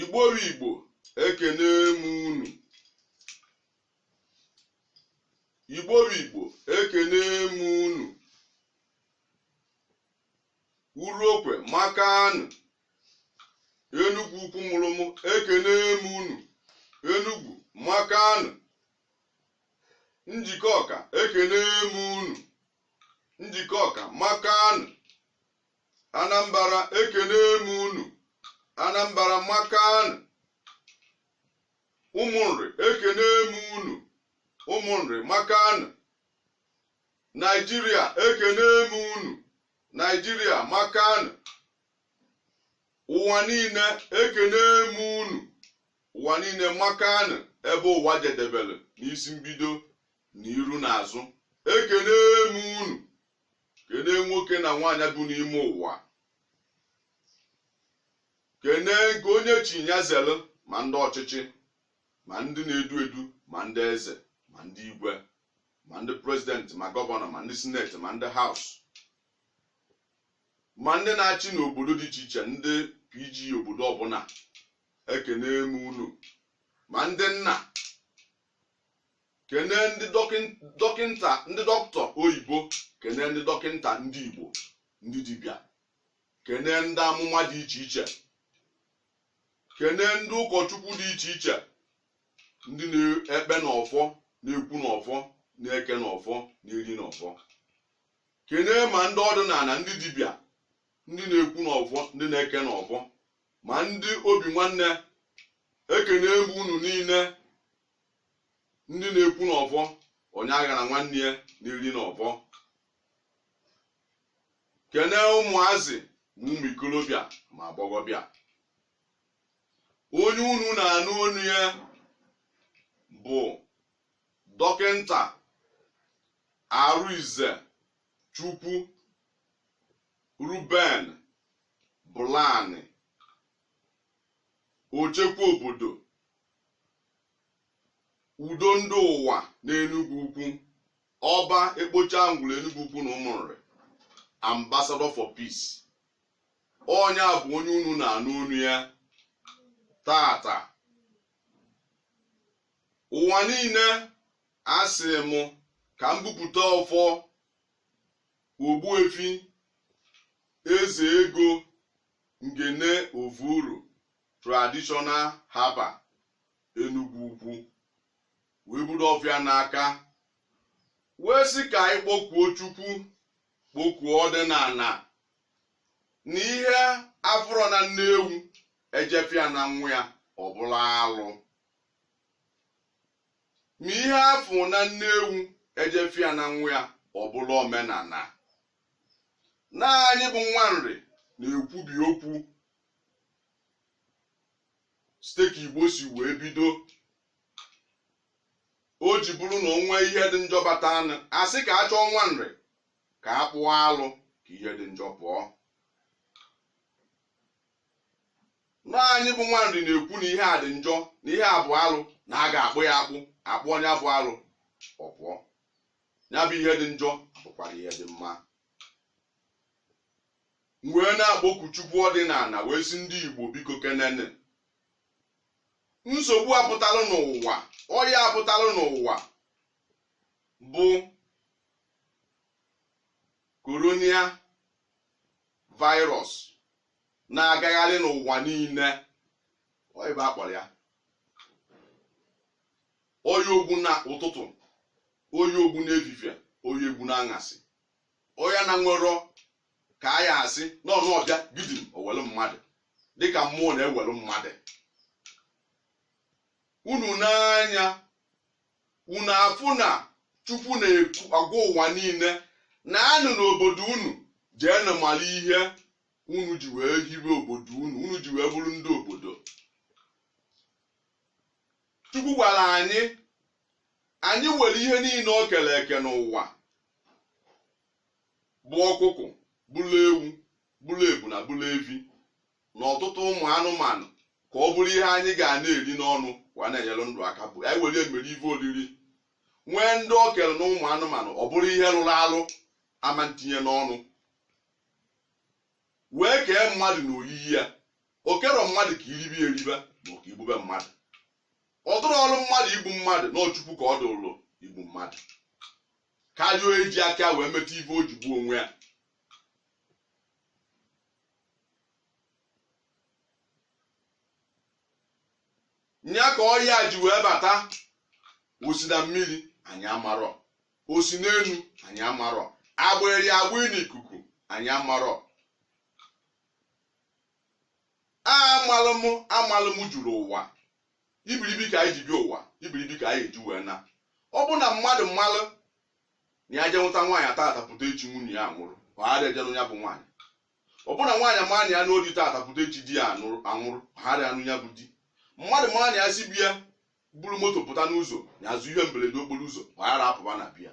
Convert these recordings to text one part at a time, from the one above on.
igbo bụ igbo ekene m unu igbo bụ igbo ekene m unu uruokwe makanụ enugwu ukwu mụrụ mụ ekene m unu enugwu makanụ njikọka ekene m unu njikọka makanụ Anambara ekene m unu Anambara makanụ ụmụnri ekene m unu ụmụnri makanụ Naijiria ekene m unu Naijiria makanụ ụwa niile ekene m unu ụwa niile makanụ ebe ụwa jedebere n'isi mbido na iru na azụ ekene m unu kenee nwoke na nwaanyị bụ n'ime ụwa kenee nke onye chi nya zelu ma ndị ọchịchị ma ndị na-edu edu ma ndị eze ma ndị igwe ma ndị prezidenti ma gọvanọ ma ndị sineti ma ndị haus ma ndị na-achị n'obodo dị iche iche ndị pg obodo ọbụla ekene m unu ma ndị nna kenee ndị dọkịn- dọkịnta ndị dọkịta oyibo kenee ndị dọkịnta ndị igbo ndị dibịa kenee ndị amụma dị iche iche kenee ndị ụkọchukwu dị iche iche ndị na-ekpe n'ọfọ na-ekwu n'ọfọ na-eke n'ọfọ na-eri n'ọfọ kenee ma ndị ọdịnala ndị dibịa ndị na-ekwu n'ọfọ ndị na-eke n'ọfọ ma ndị obi nwanne ekene m unu niile ndị na-ekwu n'ọfọ onye aghara nwanne ya na-eri n'ọfọ kene ụmụazị ma ụmụ ikolobịa ma agbọghọbịa onye unu na-anụ onu ya bụ dọkịnta arinzechukwu Ruben Bụlanị ochekwa obodo udo ndị ụwa n'Enugwu Ukwu ọba ekpocha ngwụrụ Enugwu Ukwu na Ụmụnri ambassador for peace onye a bụ onye unu na-anụ onu ya taata ụwa niile asị m ka m bupụta ọfọ Ogbuefi Eze Ego Ngene Ovuru Traditional Herbal Enugwu Ukwu wee buru ọfọ a n'aka wee sị ka anyị kpọkuo Chukwu kpọkuo ọdịnala na ihe a fụrọ na nne ewu e je fụ ya na nwa ya ọ bụrụ alụ ma ihe a fụ na nne ewu e je fụ ya na nwa ya ọ bụrụ omenala na anyị bụ nwa Nri na-ekwubi okwu site ka Igbo si wee bido o ji bụrụ na o nwee ihe dị njọ batanụ a sị ka a chọọ nwa Nri ka a kpụọ alụ ka ihe dị njọ pụọ na anyị bụ nwa Nri na-ekwu na ihe a dị njọ na ihe a bụ alụ na a ga-akpụ ya akpụ a kpụọ nya bụ alụ ọ pụọ ya bụ ihe dị njọ bụkwara ihe dị mma M wee na-akpọku Chukwu ọdịnala wee sị ndị Igbo biko kenene nsogbu a pụtalụ n'ụwa ọya a pụtalụ n'ụwa bụ corona virus na-agagharị n'ụwa niile ọ ife a kpọrọ ọya ogbu na ụtụtụ ọya ogbu n'efifie ọya ogbu n'aṅasị ọya na-enwerọ ka a ya-asị na ọ nọ ọ bịa gidim o welu mmadụ dịka mmụọ na-ewelu mmadụ unu nee anya unu afụ na Chukwu na-agwa ụwa niile naanụ n'obodo unu jeenụ mara ihe unu ji wee hibe obodo unu unu ji wee bụrụ ndị obodo Chukwu gwara anyị anyị were ihe niile o kere eke n'ụwa bụ ọkụkụ bụrụ ewu bụrụ ebuna bụrụ evi na ọtụtụ ụmụ anụmanụ ka ọ bụrụ ihe anyị ga na-eri n'ọnụ wa na-enyere ndụ aka bụ anyị were mere ife oriri nwee ndị o kere na ụmụ anụmanụ ọ bụrụ ihe rụrụ arụ ama ntinye n'ọnụ wee kee mmadụ na oyiyi ya o kerọ mmadụ ka e ribe eribe ma ọ ka e gbube mmadụ ọ dịrọlụ mmadụ igbu mmadụ na ọ Chukwu ka ọ dụrụ igbu mmadụ karịa eji aka wee meta ife o ji gbuo onwe ya nya ka ọya ji wee bata o si na mmiri anyị amarọ o si n'elu anyị amarọ a gbara ya agba n'ikuku anyị amarọ amalụ m amalụ m juru ụwa ibiribi ka anyị ji bịa ụwa ibiribi ka anyị eji wee naa ọ bụ na mmadụ malụ na ya je nụta nwaanyị tata pụta echi nwunye ya nwụrụ ọ ghara eje nụ ya bụ nwaanyị ọ bụ na nwaanyị maa na ya nụọ di tata pụta echi di ya anwụrụ ọ ghara anụ ya bụ di mmadụ maa na ya si be ya buru moto pụta n'ụzọ ya ezu ihe mberede okporo ụzọ ọ ghara apụba na be ya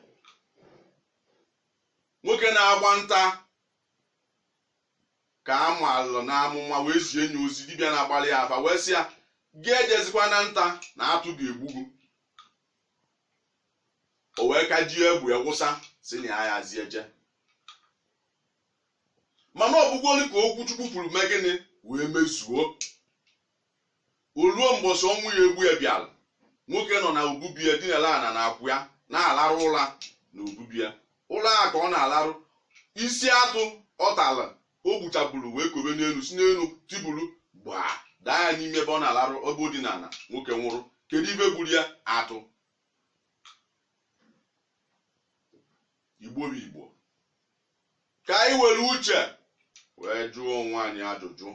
nwoke na-agba nta ka a maalụ n'amụma wee zie nya ozi dibịa na-agbalị ya afa wee sị ya gị ejezikwa na nta na atụ ga-egbu gị o wee kajie egbe ya wụsa sị na ya yazi eje mana ọ bụgwoli ka okwu chukwu kwuru mee gịnị wee mezuo o ruo mbọsị ọnwụ ya-egbu ya bịara nwoke nọ na obu be ya dinala ana na akwa ya na-alarụ ụra na obu be ya ụra a ka ọ na-alarụ isi atụ ọ tara o gbuchaburu wee kobe n'elu si n'elu tibulu gbaa daa ya n'ime ebe ọ na-alarụ ebe o dinala nwoke nwụrụ kedu ife gburu ya atụ igbo bụ igbo ka anyị were uche wee jụọ onwe anyị ajụjụ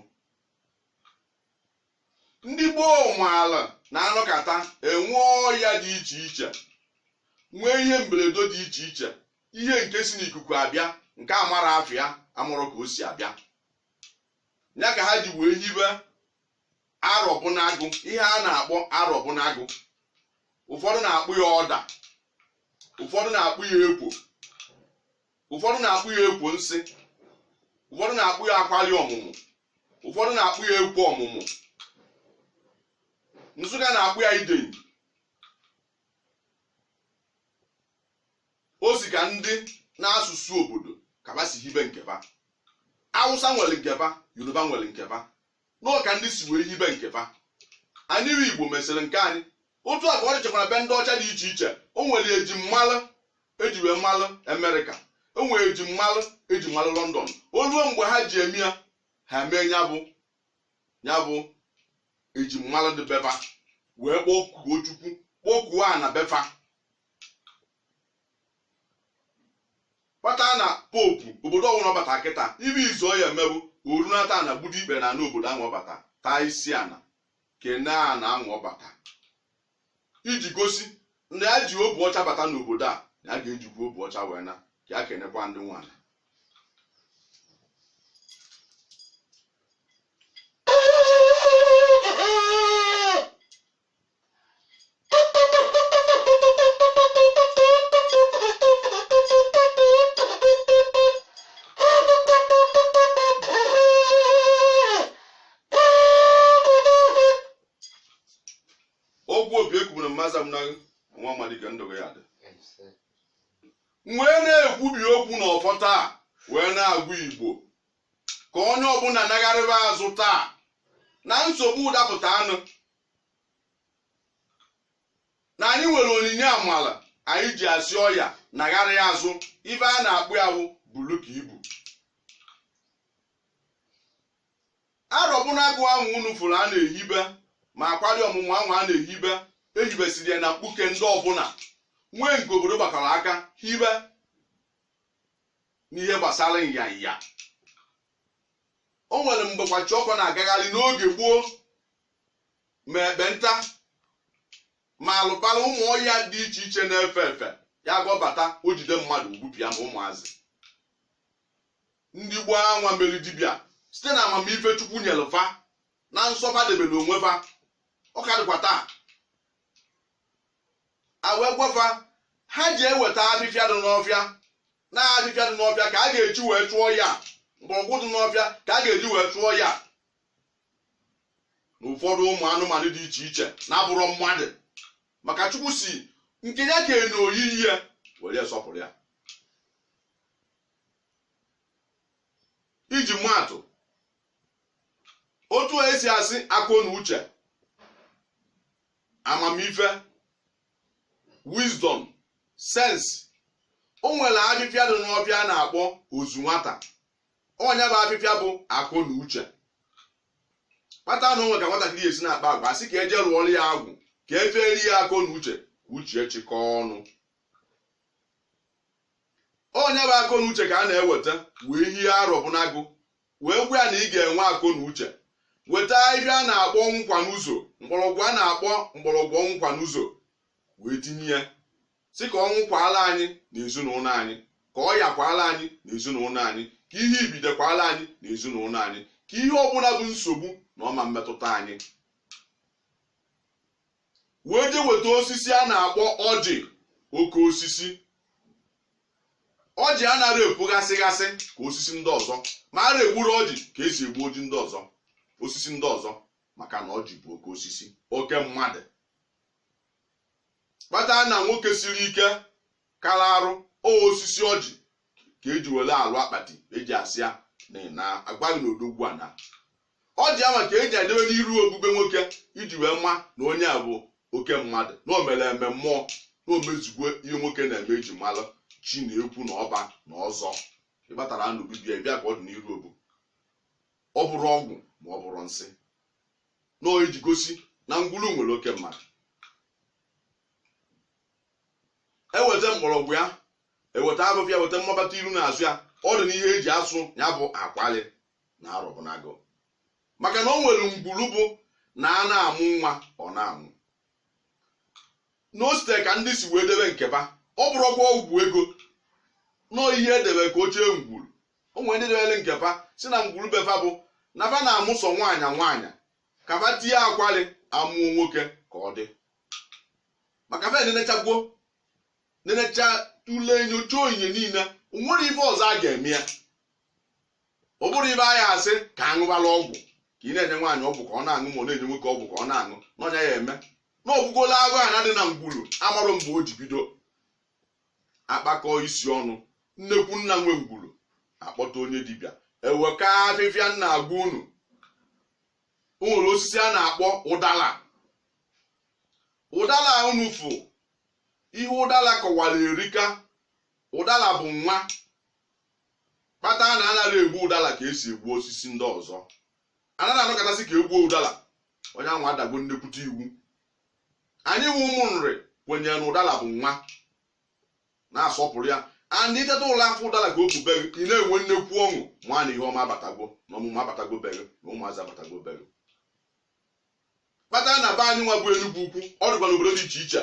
ndị gboo maalụ na anọkata enwee ọya dị iche iche nwee ihe mberede dị iche iche ihe nke si n'ikuku abịa nke amarọ afa ya amarọ ka o si abịa ya ka ha ji wee hibe arọbụnagụ ihe a na-akpọ arọbụnagụ ụfọdụ na-akpọ ya ọda ụfọdụ na-akpọ ya ekwu ụfọdụ na-akpọ ya ekwu nsị ụfọdụ na-akpọ ya akwali ọmụmụ ụfọdụ na-akpọ ya ekwu ọmụmụ nsụka na-akpọ ya idenyi o si ka ndị na asụsụ obodo ka fa si hibe nke fa awụsa nwere nke fa yoruba nwere nke fa na ọ ka ndị si wee hibe nke fa anyị bụ igbo mesịrị nke anyị otu a ka ọ dịchakwara be ndị ọcha dị iche iche o nwere ejimalụ e ji wee malụ amerịka o nwere ejimalụ e ji malụ london o ruo mgbe ha ji eme ya ha mee ya bụ ya bụ ejimalụ dị be fa wee kpọkuo chukwu kpọkuo ana be fa kpata na popu obodo ọbụla ọ bata kịta ife izizi ọ ya-eme bụ o runata ana gbudo ikpe n'ana obodo ahụ ọ bata taa isi ana kene ana anwa ọ bata iji gosi na ya ji obu ọcha bata n'obodo a na ya ga-ejikwa obu ọcha wee naa ka ya kenekwa ndị nwe ana ọgwụ obi ekwubere mmaza m na nwa amalike ndụ gị ya-adị wee na-ekwubi okwu n'ọfọ taa wee na-agwa igbo ka onye ọbụla nagharịba azụ taa na nsogbu dapụtanụ na anyị nwere onyinye amala anyị ji asị ọya nagharịa azụ ife a na-akpọ ya wụ bulu ka ibu arọbụnagụ ahụ unu fụrụ a na-ehibe ma akwari ọmụmụ ahụ a na-ehibe e hibesiri ya na mkpuke ndị ọbụla nwee nke obodo gbakọrọ aka hibe n'ihe gbasara nyanya o nwere mgbe kwashiọkọ na-agagharị n'oge gboo ma ekpenta ma alubala ụmụ ọya dị iche iche na-efe efe ya ka ọ bata o jide mmadụ o gbupịa ma ụmụazị ndị gboo anwa mere dibịa site na amamife chukwu nyere fa na nsọ fa debere onwe fa ọ ka dịkwa taa a wee gwa fa ha je weta afịfịa dị n'ọfịa na afịfịa dị n'ọfịa ka a ga-eji wee chụọ ya mgbọrọgwụ dị n'ọfịa ka a ga-eji wee chụọ ya na ụfọdụ ụmụ anụmanụ dị iche iche na-abụrọ mmadụ maka chukwu sị nke ya kere n'oyiyi ya were sọpụrụ ya iji maa atụ otu a esi asị akọ na uche amamife wisdom sense o nwere afịfịa dị n'ọfịa a na-akpọ ozu nwata ọ nya bụ afịfịa bụ akọ na uche kpata na o nwee ka nwatakịrị esi na-akpa agwa a sị ka e je rụọrọ ya agwụ ka e feeri ya akọ na uche ka uche chịkọọ ọnụ ọ nya bụ akọ na uche ka a na-eweta wee hie arọbụnagụ wee gwa ya na ị ga-enwe akọ na uche weta afịfịa a na-akpọ ọnwụkwa n'ụzọ mgbọrọgwụ a na-akpọ mgbọrọgwụ ọnwụkwa n'ụzọ wee tinye ya sị ka ọnwụ kwaala anyị na ezinụlọ anyị ka ọya kwaala anyị na ezinụlọ anyị ka ihe ibide kwaala anyị na ezinụlọ anyị ka ihe ọbụla bụ nsogbu na ọ ma-emetụta anyị wee je weta osisi a na-akpọ ọjị oke osisi ọjị anaghị epughasịghasị ka osisi ndị ọzọ ma a na-egburọ ọjị ka esi egbu ọjị ndị ọzọ osisi ndị ọzọ maka na ọjị bụ oke osisi oke mmadụ kpata na nwoke siri ike kara arụ o osisi ọjị ka eji were alụ akpati eji asị ya na agbaghị na odogwu anaa ọ dị ama ka eji adebe n'iru obu be nwoke iji wee ma na onye a bụ oke mmadụ na o mere eme mmụọ na o mezugo ihe nwoke na-eme eji mara chi na ekwu na ọba na ọzọ ị batara n'obu be ya bịa ka ọ dị n'iru obu ọ bụrọ ọgwụ ma ọ bụrọ nsi na ọ eji gosi na ngwulu nwere oke mmadụ eweta mgbọrọgwụ ya eweta abụba ya weta mmabata iru na azụ ya ọ dị n'ihe eji asụ ya bụ akwalị na arọbụnagụ maka na o nwere ngwuru bụ na a na-amụ nwa ọ na-anwụ na o site ka ndị si wee debe nke fa ọ bụrọkwa ọgwụ ego na ọ ihe edebe ka o chee ngwuru o nwere ndị debere nke fa sị na ngwuru be fa bụ na fa na-amụ sọ nwaanyị nwaanyị ka fa tie akwalị amụọ nwoke ka ọ dị maka fa nenechagwo nenecha tụlee nyocha onyinye niile o nwere ife ọzọ a ga-eme ya ọ bụrọ ife a ya-asị ka aṅụbala ọgwụ ka ị na-enye nwaanyị ọgwụ ka ọ na-aṅụ ma ọ na-enye nwoke ọgwụ ka ọ na-aṅụ n'ọnya ya eme na ọgwụgola agụ a na-adị na ngwuru amarọ mgbe o ji bido akpakọ isi ọnụ nnekwu nna nwe ngwuru akpọta onye dibịa eweka afịfịa m na-agwa unu o nwere osisi a na-akpọ ụdala ụdala unu fụ ihe ụdala kọwara erika ụdala bụ nwa kpata na anaghị egbu ụdala ka esi egbu osisi ndị ọzọ anaghị anọkata sị ka egbuo ụdala onye ahụ adago nnekwute iwu anyị nwa ụmụ Nri kwenyere na ụdala bụ nwa na-asọpụrụ ya and ị teta ụla fụ ụdala ka ọ kwụ be gị ị na-enwe nnekwu ọṅụ ma na ihe ọma abatago na ọmụmụ abatago be gị na ụmụazị abatago be gị kpata na be anyị nwa bụ Enugu ukwu ọ dịkwa n'obodo dị iche iche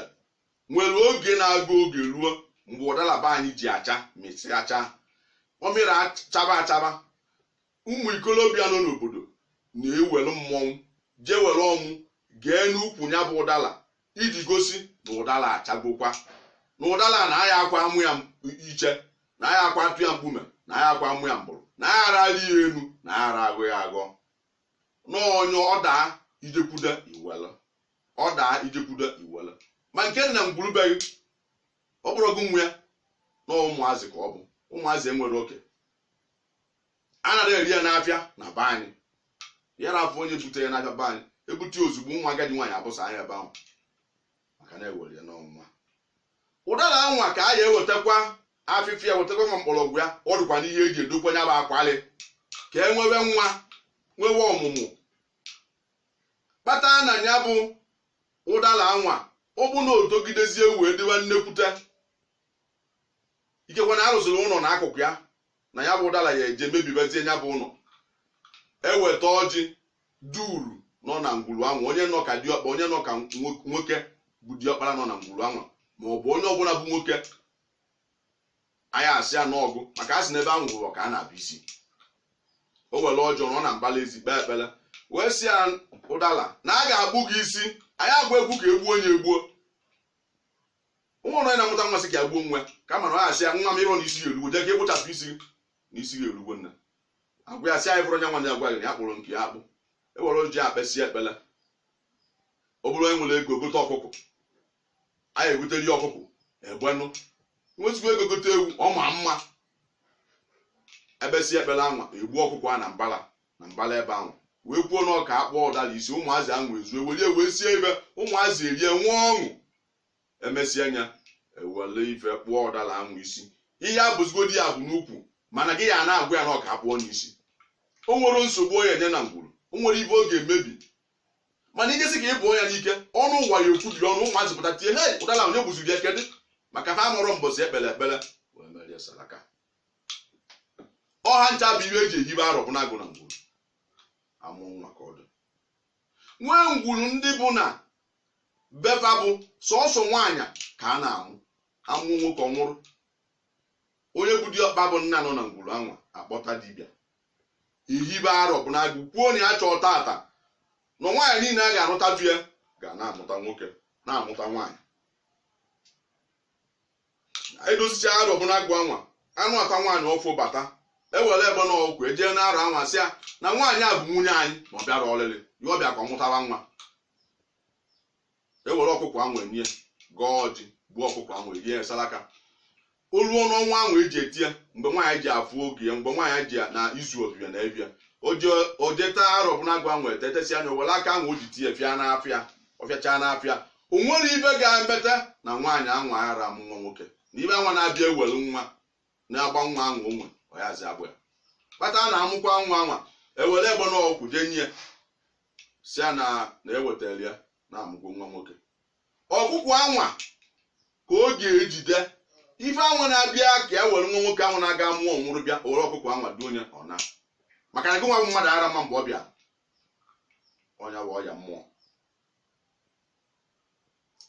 nwere oge na-aga oge ruo mgbe ụdala be anyị ji acha mịsịa chaa ọ mịrị achaba achaba ụmụ ikolobịa nọ n'obodo na-ewere mmọnwụ jee were ọmụ gee n'ukwu ya bụ ụdala iji gosi na ụdala achagokwa na ụdala na aya akwa amụ ya iche na aya akwa atụ ya mkpume na aya akwa amụ ya mgbụrụ na aya ara arị ya enu na aya ara aghọ ya aghọ n'onye ọ daa i jekwude i were ọ daa ijekwudo iwere ma nke dị na ngwuru be gị ọ bụrọ gị nwe ya na ụmụazị ka ọ bụ ụmụazị enwere oke anara ere ya n'afịa na be anyị ya na afọ onye bute ya n'afịa be anyị ebute ya ozugbo nwa agadi nwaanyị abụsa ya ebe ahụ maka na ewere ya n'ọnwa ụdala anwa ka a ya ewetakwa afịfịa wetakwa ma mkpọrọgwụ ya ọ dịkwa n'ihe eji edokwa ya bụ akwalị ka e nwewe nwa nwewe ọmụmụ kpata na ya bụ ụdala anwa ọ bụ na otogidezie wee dịwa nnekwute ikekwe na arụsịrị ụlọ na akụkụ ya na ya bụ ụdala ya eje mebibazie ya bụ ụlọ eweta ọjị duuru nọ na ngwuru anwa onye nọ ka diọkpa onye nọ ka nwoke bụ diọkpara nọ na ngwuru anwa ma ọ bụ onye ọbụla bụ nwoke anyị asị ya n'ọgụ maka a sị na ebe a nwụrụ ka a na-akpụ isi o were ọjị ahụ nọ na mbala ezi kpee ekpere wee sị ya ụdala na a ga-akpụ gị isi anyị aga ekwu ka egbuo ya egbuo o nwerọ onye na-amụta nwa sị ka ya gbuo nwa kama na ọ asị ya nwa m ịrọ na isi ya erugo jee ka ịkpụchapụ isi gị na isi gị erugo nna agwa ya sị anyị fụrụ onye nwa ya gwa gị na ya kpụrụ nke ya akpụ ewere ọjị kpesị ekpele ọ bụrụ onye nwere ego gote ọkụkọ anyị egotere ya ọkụkọ egbenụ nwee ezigbo ego gote ewu ọ ma mma ekpesị ekpere anwa egbuo ọkụkọ a na mbala ebe anwa wee kwuo na a ga-akpụ ụdala isi ụmụazị ahụ wee zuo were wee sie ife ụmụazị erie nwee ọṅụ emesịa ya ewele ife kpụọ ụdala ahụ isi ị ya egbuzigodi ya egbu n'ukwu mana gị ya na-agwa ya na a ga-akpụ ya n'isi o nwerọ nsogbu ọ ya enye na ngwuru o nwerọ ife ọ ga-emebi mana ijesi ka ị gbuo ya n'ike ọnụ ụwa ya egbu gị ọnụ ụmụazị pụta tie he ụdala onye gbuzi gị e kedụ maka ha amarọ mbọsị ekpere ekpere wee merie salaka ọha ncha bụ ihe eji ehibe arọ bụ n'agụ na ngwuru amụ nwa ka ọ dị nwee ngwuru ndị bụ na befa bụ sọsọ nwaanyị ka a na-amụ amụọ nwoke ọ nwụrụ onye bụ diọkpa bụ nna nọ na ngwuru anwa akpọta dibịa ihibe arọ bụ n'agụ kwuo na ya chọrọ tata na nwaanyị niile a ga-anụta di ya ga na-amụta nwoke na-amụta nwaanyị edosichaa arọ bụ n'agụ anwa anụata nwaanyị ọfụ bata ewere egbene ọkụkọ jee na arọ anwa sị ya na nwaanyị a bụ nwunye anyị na ọ bịarọ ọlịlị ya ọ bịa ka ọ mụtara nwa ewere ọkụkọ ahụ nye gọọ ọjị gbuo ọkụkọ ahụ erie ya salaka o ruo n'ọnwa ahụ eji eti ya mgbe nwaanyị ji afụ oge ya mgbe nwaanyị ji ya na izu ọ bịa na ebe ya o je ete arọ bụ n'agụ anwa ete etesịa ya were aka ahụ o ji tee fịa n'afọ ya ọ fịachaa n'afọ ya o nwerọ ife ga-emeta na nwaanyị anwa ara amụ nwa nwoke na ife anwa na-abịa ewere nwa na-agba nwa anwa onwe ọ yazi egbu ya kpata na amụkwa nwa anwa ewere egbene ọkụkọ jee nye ya sị ya na na ewetara ya na amụgo nwa nwoke ọkụkọ anwa ka ọ ga-ejide ife anwa na-abịa ka e were nwa nwoke anwa na-aga mụọ nwụrụ bịa o were ọkụkọ anwa dị onye ọ na maka na gị nwa bụ mmadụ ara ama mgbe ọ bịa ọ nya bụ ọya mmụọ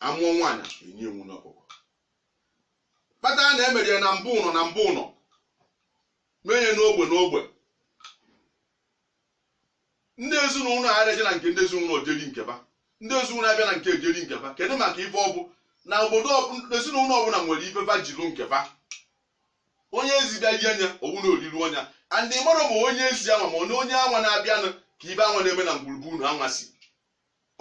amụọ nwaanyị enye nwunye ọkụkọ kpata na emere ya na mbụ ụnọ na mbụ ụnọ mee ya n'ogbe n'ogbe ndị ezinụlọ ara eje na nke ndị ezinụlọ je eri nke ba ndị ezinụlọ abịa na nke eje eri nke ba kedu maka ife ọ bụ na obodo ọbụ- ezinụlọ ọbụla nwere ife va jiru nke ba onye ezi bịa rie anya owu na oriri ọnya andị mmadụ ma onye ezi anwa ma onye onye anwa na-abịanụ ka ibe anwa na-eme na ngwuru be unu anwa sị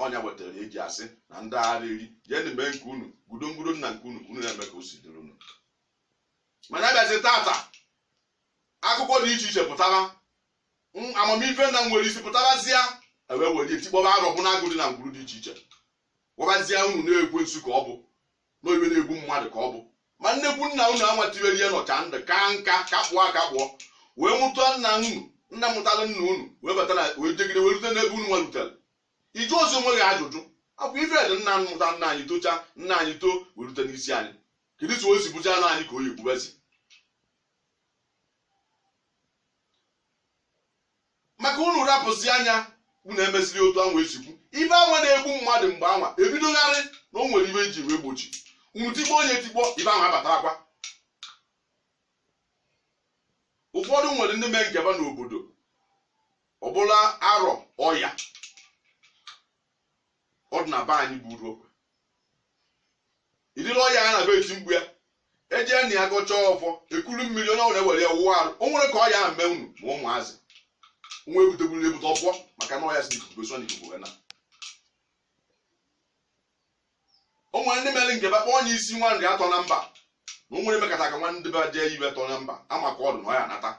ọ nya wetara e ji asị na ndị ara eri jenụ mee nke unu gudo ngudo nna nke unu ka unu na-eme ka o si dịrị unu mana abịazi tata akụkọ dị iche iche pụtara m- amamife na-enwerọ isi pụtarazịa ewee were etikpọba arọbụnagụ dị na ngwuru dị iche iche gwabazịa unu na ekwensu ka ọ bụ na ife na-egbu mmadụ ka ọ bụ ma nnekwu nna unu anwa tiwere ihe nọcha ndụ ka nka kakpụọ akakpụọ wee mụta nna unu nna mụtara nna unu wee bata na wee jegide wee rute n'ebe unu nwa lutere ị jụọzị onwe gị ajụjụ ọ kwa ife dị nna mụta nna anyị tocha nna anyị too wee rute n'isi anyị kedu etu o si bụcha na anyị ka ọ ya-egbubazi maka unu rapụzi anya unu emesiri otu anwa esikwu ibe anwa na-egbu mmadụ mgbe anwa ebidogharị na o nwere ibe eji wee gbochi unu tikpọọ onye tikpọọ ibe anwa abatarakwa ụfọdụ nwere ndị mee nke ba n'obodo ọbụla arọ ọya ọ dị na be anyị bụ uruokwe idiri ọya a na-abịa eti mkpu ya ejee na ya gọchaa ọfọ ekuru mmiri onye ọbụla ewere ya wụọ arụ o nwere ka ọya ahụ mee unu ma ụmụazị nwa ebutegburu ebute ọfọ maka na ọya si n'ikuku eso n'ikuku wee na o nwere ndị mere nke ba kpọọ onye isi nwa nri atọ na mba na o nwere emekata ka nwa ndị be jee ibe tọ na mba ama ka ọ dị na ọya anata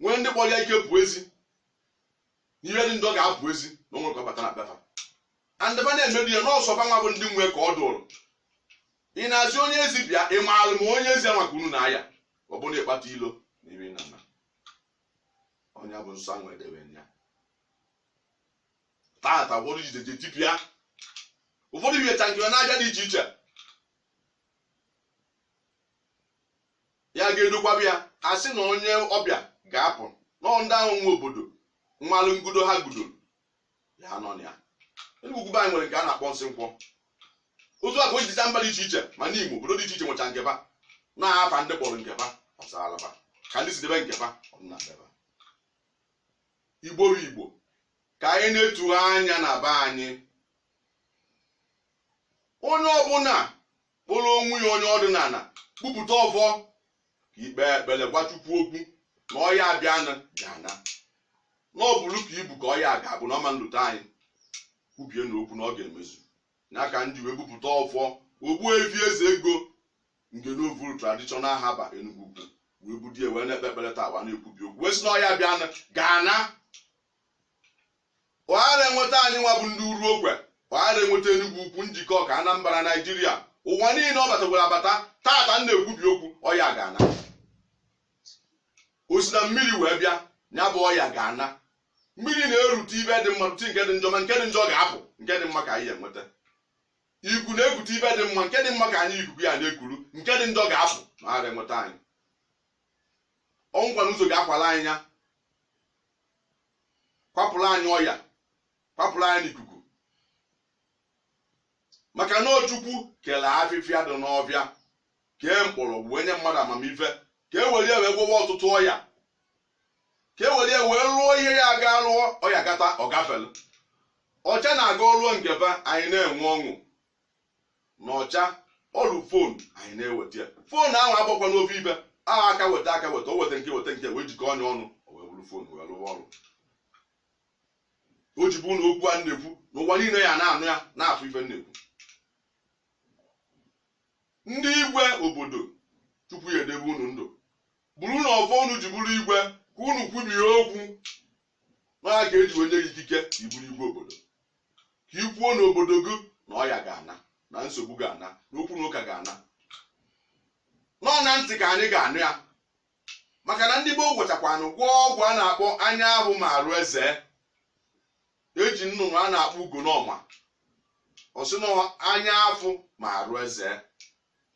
nwee ndị kpọrọ ya ike pụọ ezi n'ihe dị ndụ ọ ga-apụ ezi na o nwere ka ọ bata na bata andịba na-emebi ya nsọ ba nwa bụ ndị nwe ka ọ dụrụ ị na-asị onye ezi bịa ị maara ma onye ezi anwa ka unu na ya ọ bụrụ na ịkpata ilo n'ime na na onye bụ nsọ anwa edebe ya tata ụfọdụ jideje tipịa ụfọdụ bihecha nke na-aja dị iche iche ya ga-edukwaba ya ha sị na onye ọbịa ga-apụ na ndị ahụ nwe obodo mmalụ ngudo ha gudoro ya nọ na ya Enugwu Ukwu be anyị nwere nke a na-akpọ nsị nkwọ otu a ka o jicha mba dị iche iche ma n'Imo obodo dị iche iche nwecha nke ba n'afa ndị kpọrọ nke ba ọsalaba ka ndị si debe nke ba ọdịna debe Igbo bụ Igbo ka anyị na-atụ anya na be anyị onye ọbụla kpọrọ onwe ya onye ọdịnala bupụta ọfọ ka i kpee ekpere gwa Chukwu okwu na ọya bịanụ ga-ana na ọ bụrụ ka ibu ka ọya ga-abụ na ọ ma-elute anyị kwubie n'okwu na ọ ga-emezu ya ka m ji wee bupụta ọfọ Ogbuefi Eze Ego nke n'ovuru traditional herbal Enugwu Ukwu wee bulie wee na-ekpe ekpere taa wa na-ekwubi okwu wee sị na ọya bịanụ ga-ana Ọ ghara enweta anyị nwa bụ ndị Uruokwe, ọ ghara enweta Enugwu Ukwu, Njikọka, Anambra, Naijiria, ụwa niile ọ batagwara abata, tata m na-ekwubi okwu, ọya ga-ana. O si na mmiri wee bịa, ya bụ ọya ga-ana. Mmiri na-erute ife dị mma rute nke dị njọ ma nke dị njọ ga-apụ, nke dị mma ka anyị enweta. Ikuku na-ekute ife dị mma, nke dị mma ka anyị ikuku ya na-ekuru, nke dị njọ ga-apụ ma ghara enweta anyị. Ọnwụkwa na ụzọ ga-akwala anyị ya. kwapụrụ anyị ọya kwapụrụ anyị n'ikuku maka na Chukwu kere afịfịa dị n'ọfịa kee mkpọrọgwụ wee nye mmadụ amamife ka e were ya wee gwọwa ọtụtụ ọya ka e were ya wee lụọ ihe ya aga lụọ ọya gata ọ gafelu ọcha na-aga ọ lụọ nke ba anyị na-enwe ọṅụ na ọcha ọrụ fon anyị na-eweta ya fon ahụ agbakwa n'ofe ibe ahụ aka weta aka weta o weta nke weta nke wee jikọnye ọnụ o wee bụrụ fon wee lụwa ọrụ o ji bụ na okwu a na-ekwu n'ụwa niile ya na-anụ ya na-afụ ife na-ekwu ndị igwe obodo Chukwu ya-edebe unu ndụ bụrụ na ọfọ unu ji bụrụ igwe ka unu kwubie okwu na ya ka e ji wee nye ikike ka ị bụrụ igwe obodo ka i kwuo n'obodo gị na ọya ga-ana na nsogbu ga-ana na okwu na ụka ga-ana na ọ na ntị ka anyị ga-anụ ya maka na ndị gboo gwachakwanụ gwọọ ọgwụ a na-akpọ anya ahụ ma arụ eze e ji nnụnụ a na-akpọ ugonọma ọ sị na anya afụ ma arụ eze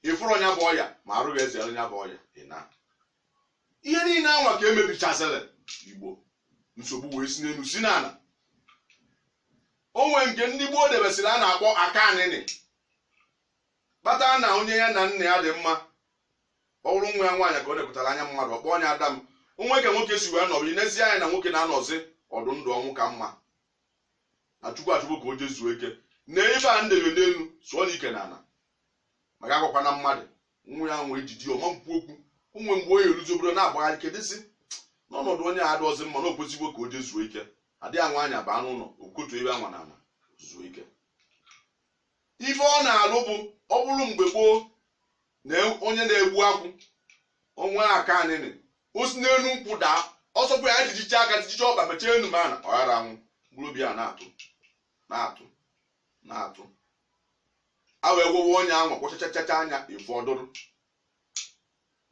ị fụrụ onye bu ọya ma arụ gị eze onye bu ọya ị na ihe niile anwa ka emebichazịrị igbo nsogbu wee si n'elu si n'ala o nwee nke ndị gboo debesịrị a na-akpọ aka anịnị kpata na onye ya na nna ya dị mma ọ bụrụ nwa ya nwaanyị ka ọ nepụtara anya mmadụ ọ kpọọ onye ada m o nwee ka nwoke si wee nọrọ i nezie anya na nwoke na-anọzi ọdị ndụ ọnwụ ka mma na chukwu achọgwo ka o jee zuo ike na ebe a ndebe n'elu sụọ na ike na ala maka agwakwana mmadụ nwa ya nwa ejiji ọma mkpu okwu o nwee mgbe onye eruzi obodo na-agbagharị kedịzi n'ọnọdụ onye a adọzi mma na o kwesịgwo ka o jee zuo ike adịghị anwa anya baa n'ụlọ okotu ebe anwa na ana zuo ike ife ọ na-alụ bụ ọ bụrụ mgbe gboo na onye na-egbu akwụ o nwee aka anịnị o si n'elu nkwụ daa ọsọkwa ya jijicha aka jijicha ọkpa mechie enu mana ọ ghara anwụ mkpụrụ obi a na-atụ na-atụ na-atụ a wee gwọwa onye ahụ gwọchachachacha anya efu ọdụrụ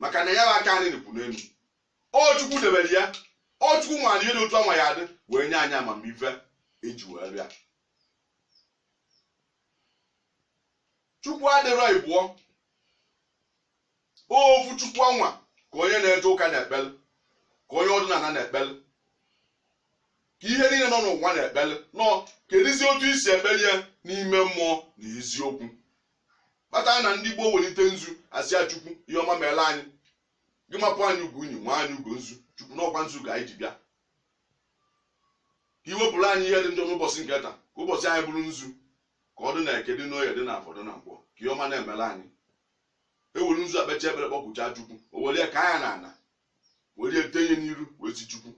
maka na ya bụ aka anịnị kwụ n'elu ọ chukwu debere ya ọ chukwu mara ihe dị otu anwa ya-adị wee nye anyị amamife e ji wee bịa chukwu adịrọ ịbụọ ofu chukwu anwa ka onye na-eje ụka na-ekpele ka onye ọdịnala na-ekpele ka ihe niile nọ n'ụwa na-ekpele nọ kedịzi otu i si ekpeli ya n'ime mmụọ na eziokwu kpata na ndị gboo welite nzu asị ya chukwu ihe ọma meela anyị gị mapụ anyị ugo unyi ma anyị ugo nzu chukwu na ọ kwa nzu ka anyị ji bịa ka i wepụrụ anyị ihe dị njọ n'ụbọchị nke taa ka ụbọchị anyị bụrụ nzu ka ọ dị na eke dị n'oye dị na afọ dị na nkwọ ka ihe ọma na-emela anyị e were nzu ekpecha ekpere kpọkuchaa chukwu o were ya ka ya na ana were ya tenye n'iru wee si chukwu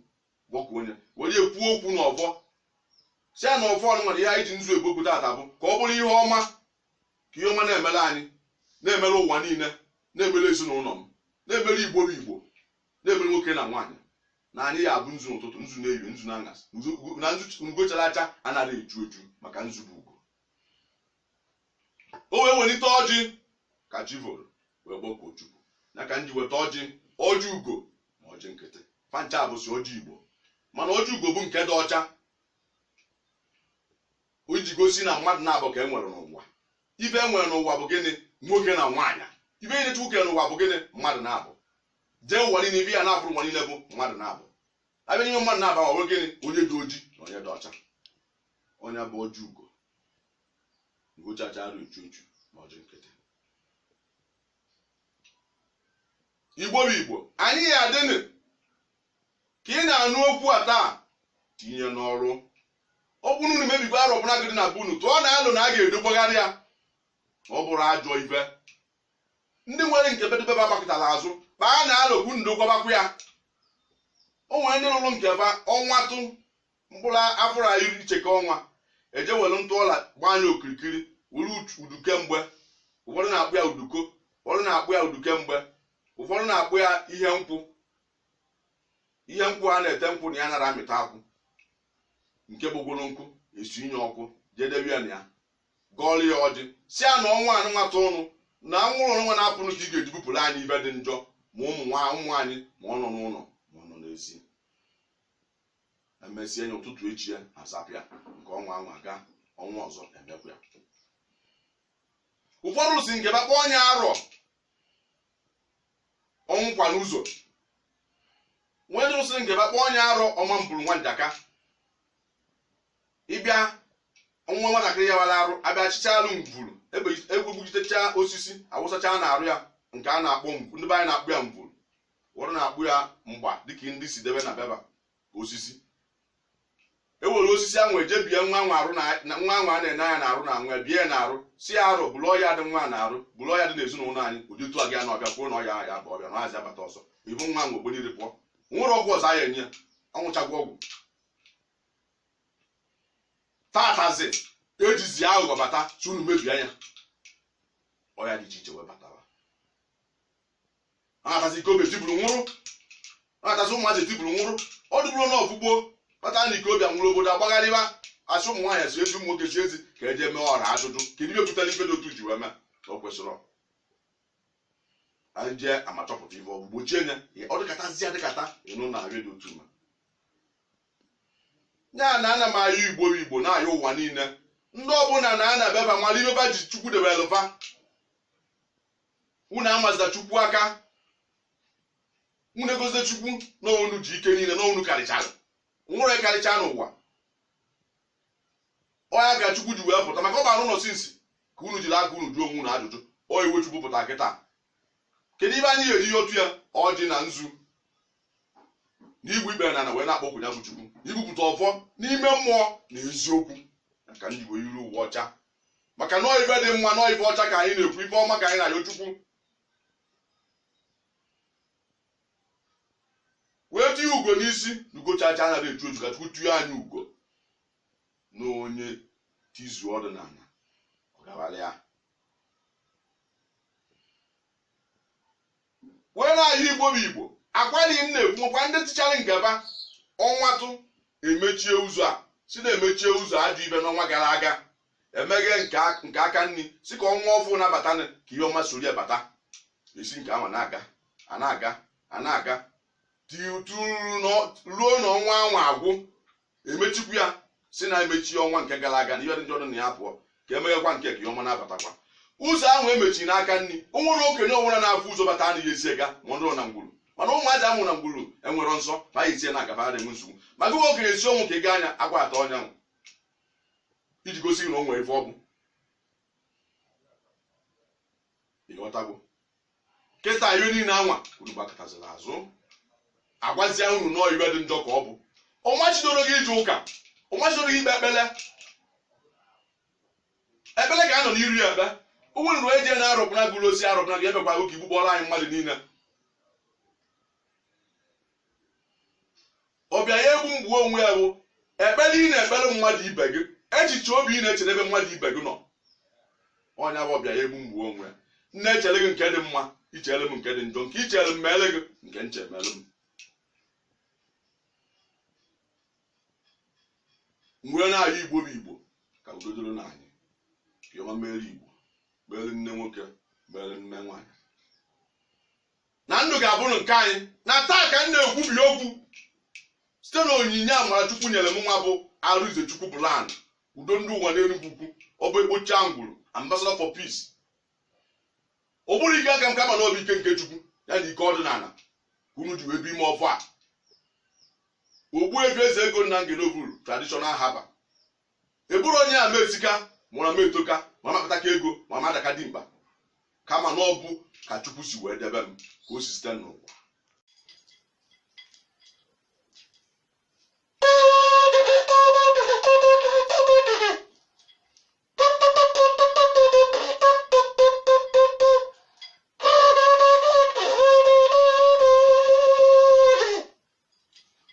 kpọkuo onye were ya kwuo okwu n'ọfọ sị ya na ọfọ ọnụnwa na ihe anyị ji nzu ekwu okwu tata bụ ka ọ bụrụ ihe ọma ka ihe ọma na-emere anyị na-emere ụwa niile na-emere ezinụlọ m na-emere igbo bụ igbo na-emere nwoke na nwaanyị na anyị ya-abụ nzu n'ụtụtụ nzu n'ehihie nzu na aṅasị na nzu ugo chara acha anaghị eju eju maka nzu bụ ugo o wee welite ọjị ka chi voro wee kpọkuo chukwu ya ka m ji weta ọjị ọjị ugo ma ọjị nkịtị fa ncha bụsi ọjị igbo mana ọjị ugo bụ nke dị ọcha o ji gosi na mmadụ naabọ ka e nwere n'ụwa ife e nwere n'ụwa bụ gịnị nwoke na nwaanyị ife niile chukwu kere n'ụwa bụ gịnị mmadụ naabọ jee ụwa niile ife ya na-afụrụ ụwa niile bụ mmadụ naabọ a bịa n'ime mmadụ naabọ ọ bụrụ gịnị onye dị oji na onye dị ọcha onye bụ ọjị ugo ngụchacha arụ uchu uchu ma ọjị nkịtị igbo bụ igbo anyị ya adịnị ka ị na-anụ okwu a taa tinye n'ọrụ ọ bụrụ na mebigbo arọ ọbụla ga dị na be unu tụọ na alo na a ga-edogbagharị ya ọ bụrụ ajọ ibe ndị nwere nke bedebe ba gbakọtara azụ kpaa na alo bụ ndokwabakwa ya o nwere ndị lụrụ nke ba ọnwa tụ mkpụrụ afụrụ a iri cheke ọnwa eje were ntụ ọla gbaa ya okirikiri were uduke mgbe ụfọdụ na-akpọ ya uduko ụfọdụ na-akpọ ya uduke mgbe ụfọdụ na-akpọ ya ihe nkwụ ihe nkwụ a na-ete nkwụ na ya nara amịta akwụ nke bụgoro nkụ esinye ọkụ jedebe ya na ya gọọlụ ya ọjị si ya na ọnwa anụnwata ụnụ na anwụrụ ọnwa na-apụnụ ka ị ga-eji bupụrụ anyị ibe dị njọ ma ụmụ nwa ụmụ anyị ma ọ nọ n'ụlọ ma ọ nọ n'ezi emesịa ya ụtụtụ echi ya azapịa nke ọnwa anwa aga ọnwa ọzọ emekwa ya ụfọdụ si nke ba kpọ onye arọ ọnwụ kwa n'ụzọ nwee ndị si nke ba kpọ onye arọ ọma mvuru nwa njaka ị bịa nwa nwatakịrị ya wara arụ abịa achịcha arụ mvuru egwegbuchitecha osisi awụsacha na arụ ya nke a na-akpọ ndị be anyị na-akpọ ya mvuru ụfọdụ na-akpọ ya mgba dịka ndị si debe na be ba osisi ewere osisi ahụ eje bie nwa nwa arụ na na- nwa nwa a na-ene anya na arụ na nwa bie ya na arụ si ya arọ buru ọya dị nwa na arụ buru ọya dị n'ezinụlọ anyị ụdị otu a gị anọ ọbịa kwuo na ọya ya bụ ọbịa na ọya abata ọzọ ibu nwa nwa o biniri pụọ nwere ọgwụ ọzọ a ya enye ya ọ nwụchagwa ọgwụ tatazi ejizi aghụghọ bata si unu mebie ya ọya dị iche iche wee batawa ọ na-atazi ike obi etiburu nwụrụ ọ na-atazi ụmụazị etiburu nwụrụ ọ dịbụrụ na ọfụgbo kpata na ike obi nwụrụ obodo agbagharịba asị ụmụ nwaanyị si ezi ụmụ nwoke si ezi ka eje mee ọra ajụjụ kedu ihe pụtara ife dị otu ji wee mee o kwesịrị ọ. anyị jee ama chọpụta ife ọgwụ gbochie nya ọ dịkatazi adịkata ịnụ na arịa dị otu ma ya na ana m ayọ igbo bụ igbo na-ayọ ụwa niile ndị ọbụla na ana be ba mara ibe ba ji chukwu debere lụba unu amazila chukwu aka unu egosila chukwu na unu ji ike niile na unu karịchara were karịcha n'ụwa ọya ka chukwu ji wee pụta maka ọ bara ụlọ sinsi ka unu jiri aka unu jụọ onwe unu ajụjụ ọ iwe chukwu pụta kịta kedu ibe anyị ga-eji ihe otu ya ọjị na nzu na igbu ikpere na ana wee na-akpọku ya bụ chukwu ibupụta ọfọ n'ime mmụọ na eziokwu ka ndị wee iru uwe ọcha maka na ọ ife dị mma na ọ ife ọcha ka anyị na-ekwu ife ọma ka anyị na-ayọ chukwu wee tinye ugo n'isi na ugo chachaa anaghị echu echu ka chukwu tuo anyị ugo na onye tizuo ọdịnala ọ gawara ya wee na-ayọ igbo bụ igbo akwari m na-ekwu nwekwa ndị tichara ngaba ọnwatụ emechie ụzọ a sị na emechie ụzọ ajọ ife n'ọnwa gara aga emeghe nke a- nke aka nri si ka ọnwa ọfụụ na-abata ka ihe ọma soro ya bata esi nke ahụ na-aga a na-aga a na-aga ti- tu- ruo na- ruo na ọnwa anwa agwụ emechikwu ya sị na emechi ọnwa nke gara aga na ihe dị njọ dị na ya pụọ ka emeghekwa nke a ka ihe ọma na-abatakwa ụzọ ahụ emechiri n'aka nri o nwere okenye ọbụla na-afụ ụzọ bata anaghị esi ya aga ma ọ dịrị na ngwuru mana ụmụazị a mụrụ na ngwuru enwere nsọ ma anyị esie na agaba adịghị nsogbu ma gị nwa okenye si ọnwụ ka ị gaa anya agwa atọ ọnyanwụ iji gosi gị na o nwere ife ọ bụ ịghọtago kịta ihe niile anwa unu gbakụtaziri azụ agwazia unu na ọ ife dị njọ ka ọ bụ ọ machidoro gị ije ụka ọ machidoro gị ikpe ekpele ekpele ka a nọ n'iru ya ebe ụmụ nrụ eje na-arụpụna gụrụ osi arụpụna gị ebekwa oge igbukpọrọ anyị mmadụ niile ọbịara egbu m gbuo onwe ya bụ ekpere ị na-ekpere mmadụ ibe gị echiche obi ị na-echere ebe mmadụ ibe gị nọ ọ ya bụ ọbịara egbu m gbuo onwe ya m na-echere gị nke dị mma i chere m nke dị njọ nke i chere m meere gị nke m chee meere m m wee na-ayọ igbo bụ igbo ka udo dịrị na anyị ka ihe ọma meere igbo meere nne nwoke meere nne nwaanyị na ndụ ga-abụrụ nke anyị na taa ka m na-ekwubi okwu site na onyinye amara chukwu nyere m nwa bụ arịnze chukwu bụ land udo ndị ụwa n'enugwu ukwu ọ bụ ekpochi angwụrụ ambassador for peace ọ bụrọ ike aka m kama na ọ bụ ike nke chukwu ya na ike ọdịnala ka unu ji wee bi ime ọfọ a ogbuefi eze ego nna ngeloburu traditional herbal ị bụrụ onye a m esika mụrụ na m etoka ma m akpataka ego ma m adaka dimkpa kama na ọ bụ ka chukwu si wee debe m ka o si site n'ụwa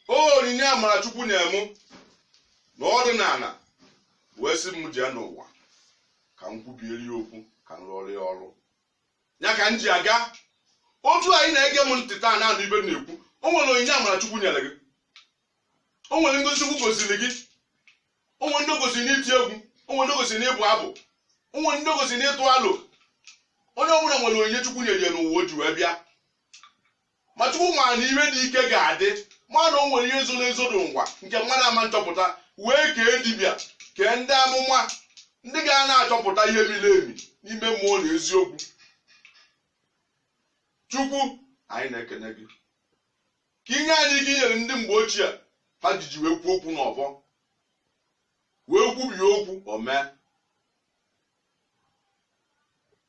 o onyinye amara chukwu nye mụ na ọdịnala wee sị m jee n'ụwa ka m kwubiere ya okwu ka m rụọrọ ya ọrụ ya ka m ji aga otu anyị na-ege m ntị taa na-anụ ihe m na-ekwu o nwere onyinye amara chukwu nyere gị o nwere ngọzi chukwu gọziri gị o nwere ndị ọ gọziri n'iti egwu o nwere ndị ọ gọziri n'ịbụ abụ o nwere ndị ọ gọziri n'ịtụ alo onye ọbụla nwere onyinye chukwu nyere ya n'ụwa o ji wee bịa ma chukwu ma na ihe dị ike ga-adị ma na o nwere ihe zoro ezo n'ụwa nke mmadụ ama nchọpụta wee kee dibịa kee ndị amụma ndị ga na-achọpụta ihe miri emi n'ime mmụọ na eziokwu chukwu anyị na-ekene gị ka i nye anyị ike i nyere ndị mgbe ochie ha jiji wee kwuo okwu n'ọfọ wee kwubie okwu o mee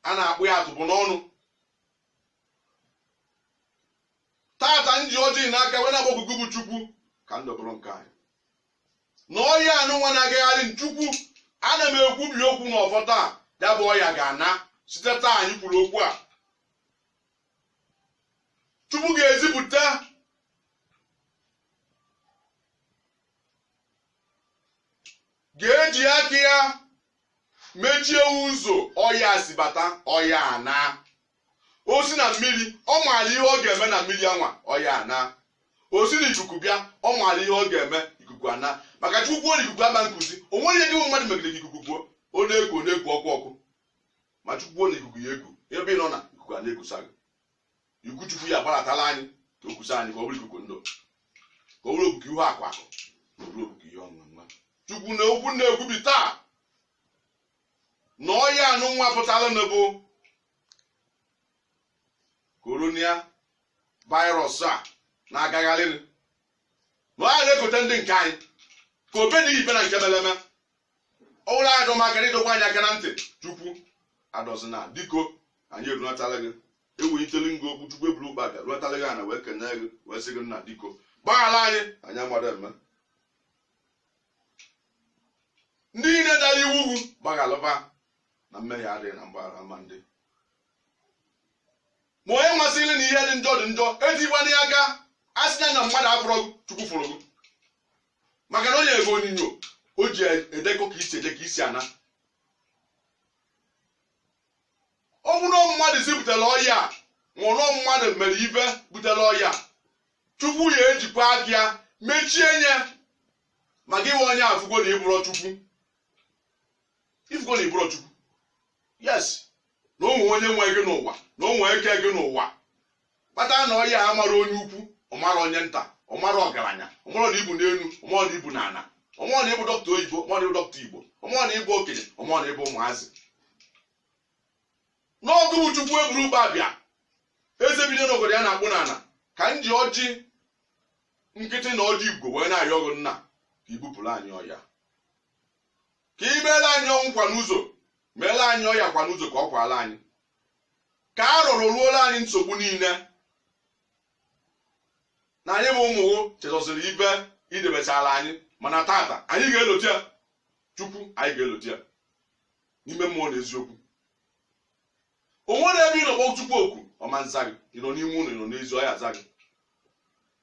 a na-akpọ ya atụpụ n'ọnụ tata m ji ọjị n'aka wee na-akpọku gị bụ chukwu ka ndụ bụrụ nke anyị na ọya a nụnwa na-agagharị chukwu ana m ekwubi okwu na ọfọ taa ya bụ ọya ga-ana site taa anyị kwuru okwu a chukwu ga-ezipụta ga-eji aka ya mechie ụzọ ọya si bata ọya ana o si na mmiri ọ maara ihe ọ ga-eme na mmiri anwa ọya ana o si na ikuku bịa ọ maara ihe ọ ga-eme ikuku ana maka chukwu kwuo na ikuku ama nkuzi o nwere ihe gị bụ mmadụ megide ka ikuku kuo ọ na-eku ọ na-eku ọkụ ọkụ ma chukwu kwuo na ikuku ya eku ebe ị nọ na ikuku a na-ekusa gị ikuku chukwu ya gbaratala anyị ka o kusa anyị ka ọ bụrụ ikuku ndụ ka ọ bụrụ ikuku ihe akụ akụ ka ọ bụrụ ikuku ihe enwe enwe chukwu na okwu m na-ekwubi taa na ọya a nụnwa pụtara na-abụ corona virus a na-agagharịrị na ọ ya na-ekote ndị nke anyị ka o be na ibe na nke mele eme ọ bụrụ adọm aka na ị dọkwa anyị aka na ntị chukwu adọzina biko anyị erunatala gị ewelitele ngị okwu chukwu eburu ụkpa bịa runatala gị ana wee kenee gị wee sị gị nna biko gbaghara anyị anyị amara eme ndị niile dara iwu gị gbaghalụ ha na mmehie adịghị na mgbaghara ama ndị ma onye masịrị na ihe dị njọ dị njọ etikwana ya aka a sị na mmadụ afụrọ gị, chukwu fụrụ gị maka na o nyere gị onyinyo o ji edekọ ka i si eje ka i si ana ọ bụ na mmadụ si butere ọya a ma ọ bụ mmadụ mere ihe butere ọya a, chukwu ya ejikwa aka ya mechie nye ma gị nwe onye afụgo na ị bụrọ chukwu ị fụgo na ị bụrọ chukwu yes na o nwee onye nwe gị n'ụwa na o nwee eke gị n'ụwa kpata na ọya amara onye ukwu ọ mara onye nta ọ mara ọgaranya ọ mara na i bu n'enu ọ mara na i bu n'ana ọ mara na ị bụ dọkịta oyibo ọ mara na ị bụ dọkịta igbo ọ mara na ị bụ okenye ọ mara na ị bụ ụmụazị na ọ gị bụ chukwu eburu ụba bịa eze bi n'enu ogodo ya na-akpụ n'ana ka m ji ọjị nkịtị na ọjị igbo wee na-ayọ gị nna ka i bupụrụ anyị ọya ka i meela anyị ọnwụ kwa n'ụzọ meela anyị ọya kwa n'ụzọ ka ọ kwala anyị ka a rọrọ ruola anyị nsogbu niile na anyị bụ ụmụ ụwa chezọsịrị ife i debechara anyị mana tata anyị ga-elota ya chukwu anyị ga-elota ya n'ime mmụọ na eziokwu o nwere ebe ị nọ kpọọ chukwu oku ọ ma nza gị ị nọ n'ime ụlọ ị nọ n'ezi ọ ya-aza gị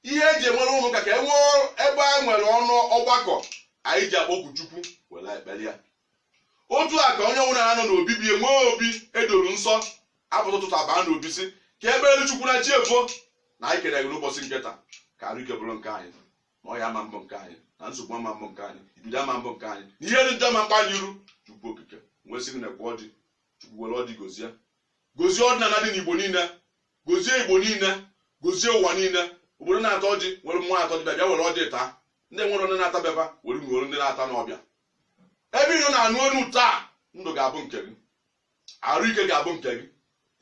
ihe e ji enwere ụlọ ụka ka e nwee ebe a nwere ọnụ ọgbakọ anyị ji akpọku chukwu were ekpere ya otu a ka onye ọbụla na-anọ n'obibi enwee obi edoro nsọ apụta ụtụtụ abaa n'obi sị ka e kpeelu chukwu na chi efona anyị kele gị n'ụbọchị nke taa ka arụ ike bụrụ nke anyị na ọya ama mbụ nke anyị na nsogbu ama mbụ nke anyị ibido ama mbụ nke anyị na ihe dị njọ ama mkpa anyị iru chukwu okike nwesị gị na-ekwe ọjị chukwu were ọjị gozie gozie ọdịnala dị n'igbo niile gozie igbo niile gozie ụwa niile obodo na-ata ọjị nwere mmụọ atọ dịbịa bịa were ọjị taa ndị nwere onye na-atabịaba were nwere ndị na-ata n'ọbịa ebe ị nọ na-anụ onu taa ndụ ga-abụ nke gị arụ ike ga-abụ nke gị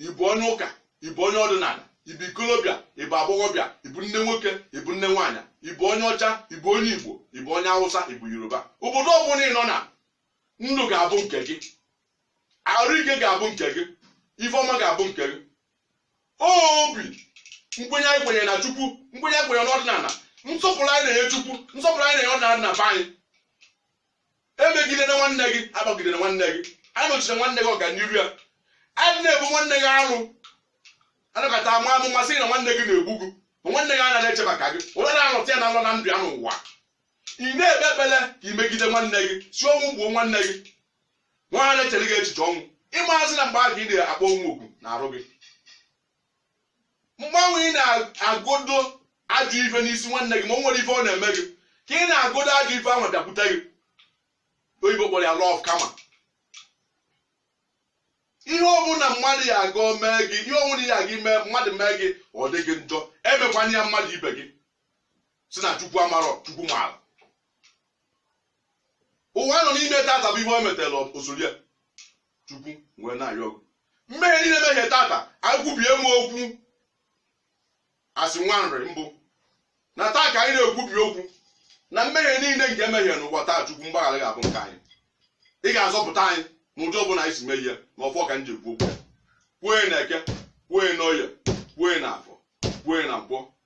ị bụ onye ụka ị bụ onye ọdịnala ị bụ ikolobịa ị bụ agbọghọbịa ị bụ nne nwoke ị bụ nne nwaanyị ị bụ onye ọcha ị bụ onye igbo ị bụ onye awụsa ị bụ yoruba obodo ọbụla ị nọ na ndụ ga-abụ nke gị arụ ike ga-abụ nke gị ife ọma ga-abụ nke gị obi nkwenye anyị kwenyere na chukwu nkwenye anyị kwenyere n'ọdịnala nsọpụrụ anyị na-enye chukwu nsọpụrụ anyị na-enye ọdịnala na be anyị emegidene nwanne gị akpagidene nwanne gị anọchine nwanne gị ọganiru ya adịna ebu nwanne gị arụ anọkata ama amụma sị na nwanne gị na-egbu gị ma nwanne gị anaghị eche maka gị onye na-anọta ya na nọ na ndụ ya n'ụwa ị na-ekpe ekpere ka i megide nwanne gị sị ọnwụ gbuo nwanne gị nwanne na-echere gị echiche ọnwụ ị mazị na mgbe ahụ ị na-akpọ ọnwụ oku n'arụ gị mgbe ahụ ị na-agodo ajọ ife n'isi nwanne gị ma o nwere ife ọ na-eme gị ka ị na-agodo ajọ ife ahụ bịakwute gị oyibo kpọrọ ya law of karma ihe ọbụla mmadụ ya aga mee gị ihe ọbụla ya gị mee mmadụ mee gị ọ dị gị njọ emekwana ya mmadụ ibe gị sị na chukwu amarọ chukwu maara ụwa nọ n'ime tata bụ ihe o metere osori ya chukwu wee na-ayọ ọgụ mmehie niile mehie tata ekwubie m okwu as nwa nri m bụ na taa ka anyị na-ekwubi okwu na mmehie niile nke emehie n'ụwa taa chukwu mgbaghara ga-abụ nke anyị ị ga-azọpụta anyị n'ụdị ọbụla anyị si mehie na ọfọ ka m ji ekwu okwu kwue na eke kwue na oye kwue na afọ kwue na nkwọ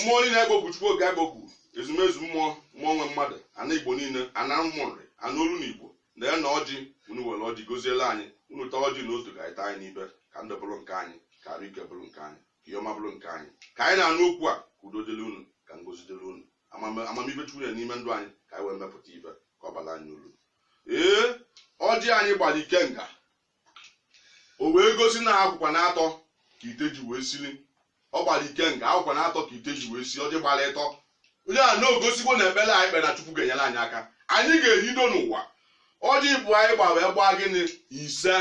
mmụọ niile agbo bụ chukwu oge agbo bụ ezumezu mmụọ nwe mmadụ ana igbo niile ana ụmụ nri ana olu na igbo neenụ ọjị unu were ọjị goziere anyị unu taa ọjị n'otu ka anyị taa anyị n'ibe ka ndụ bụrụ nke anyị ka arụ ike bụrụ nke anyị ka ihe ọma bụrụ nke anyị ka anyị na-anụ okwu a ka udo dịrị unu ka ngozi dịrị unu amamive chukwu nọ n'ime ndụ anyị ka anyị wee mepụta ive ka ọ bara anyị uru ee ọjị anyị gbara ikenga o wee gosi na akwụkwa na atọ ka ite ji wee sili ọ gbara ikenga akwụkwa na atọ ka ite ji wee sili ọjị gbara ịtọ ọ ya na-egosikwa na ekpere anyị kpere na chukwu ga-enyere anyị aka anyị ga-ehido n'ụwa ọjị bụ anyị gba wee gbaa gịnị ise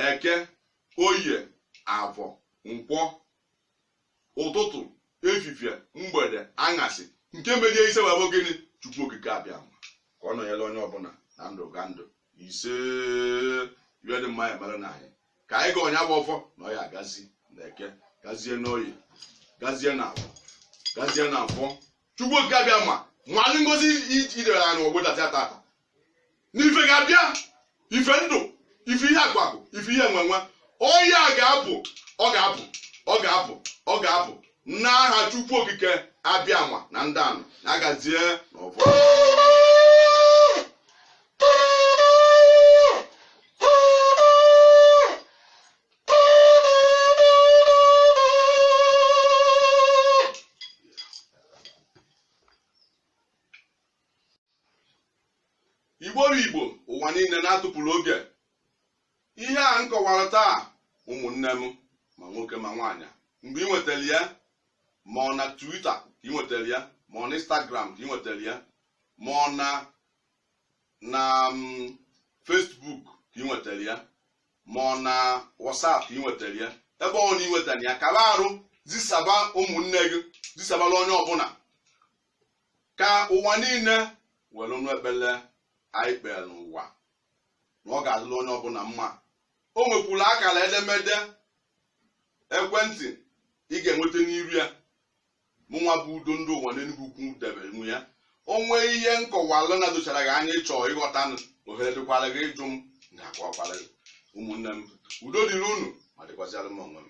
eke oye avọ nkwọ ụtụtụ efifie mgbede aṅasị nke meje ise wee bụ gịnị chukwu okike abịama ka ọ nọnyere onye ọbụla na ndụgandụ ise wee dị mma ya mere na anyị ka anyị gọọ ya bụ ọfọ na ọ ya-agazi na eke gazie n'oye gazie na afọ gazie na afọ chukwu okike abịama nna anyị ngozi dịrị anyị n'ụbọsị tata na ife ga-abịa ife ndụ ife ihe akụ akụ ife ihe enwe enwe ọ ya ga-abụ ọ ga-abụ ọ ga-abụ ọ ga-abụ n'aha Chukwu Okike abịama na ndụ anyị na-agazie n'ọfọ igbo bụ igbo ụwa niile unu atụpụla oge ihe a m kọwara taa ụmụnne m ma nwoke ma nwaanyị mgbe ị nwetara ya ma ọ na twitter ka ị nwetara ya ma ọ na instagram ka ị nwetara ya ma ọ na na mm, facebook ka ị nwetara ya ma ọ na whatsapp ka ị nwetara ya ebe ọbụna ị nwetara ya kaba arụ zisaba ụmụnne gị zisabala onye ọbụla ka ụwa niile were nụ ekpele anyị kpere n'ụwa na ọ ga-adịrị onye ọbụla mma o nwekwuru akara edemede ekwentị ị ga-enweta n'iru ya mụnwa bụ udo ndị ụwa n'enugwu ukwu debere unu ya o nwee ihe m kọwalụ na-edochara gị anya ị chọ ịghọta nụ ohere dịkwara gị ịjụ m m ga-akọwakwara gị ụmụnne m udo dịrị unu ma dịkwazịara m onwe m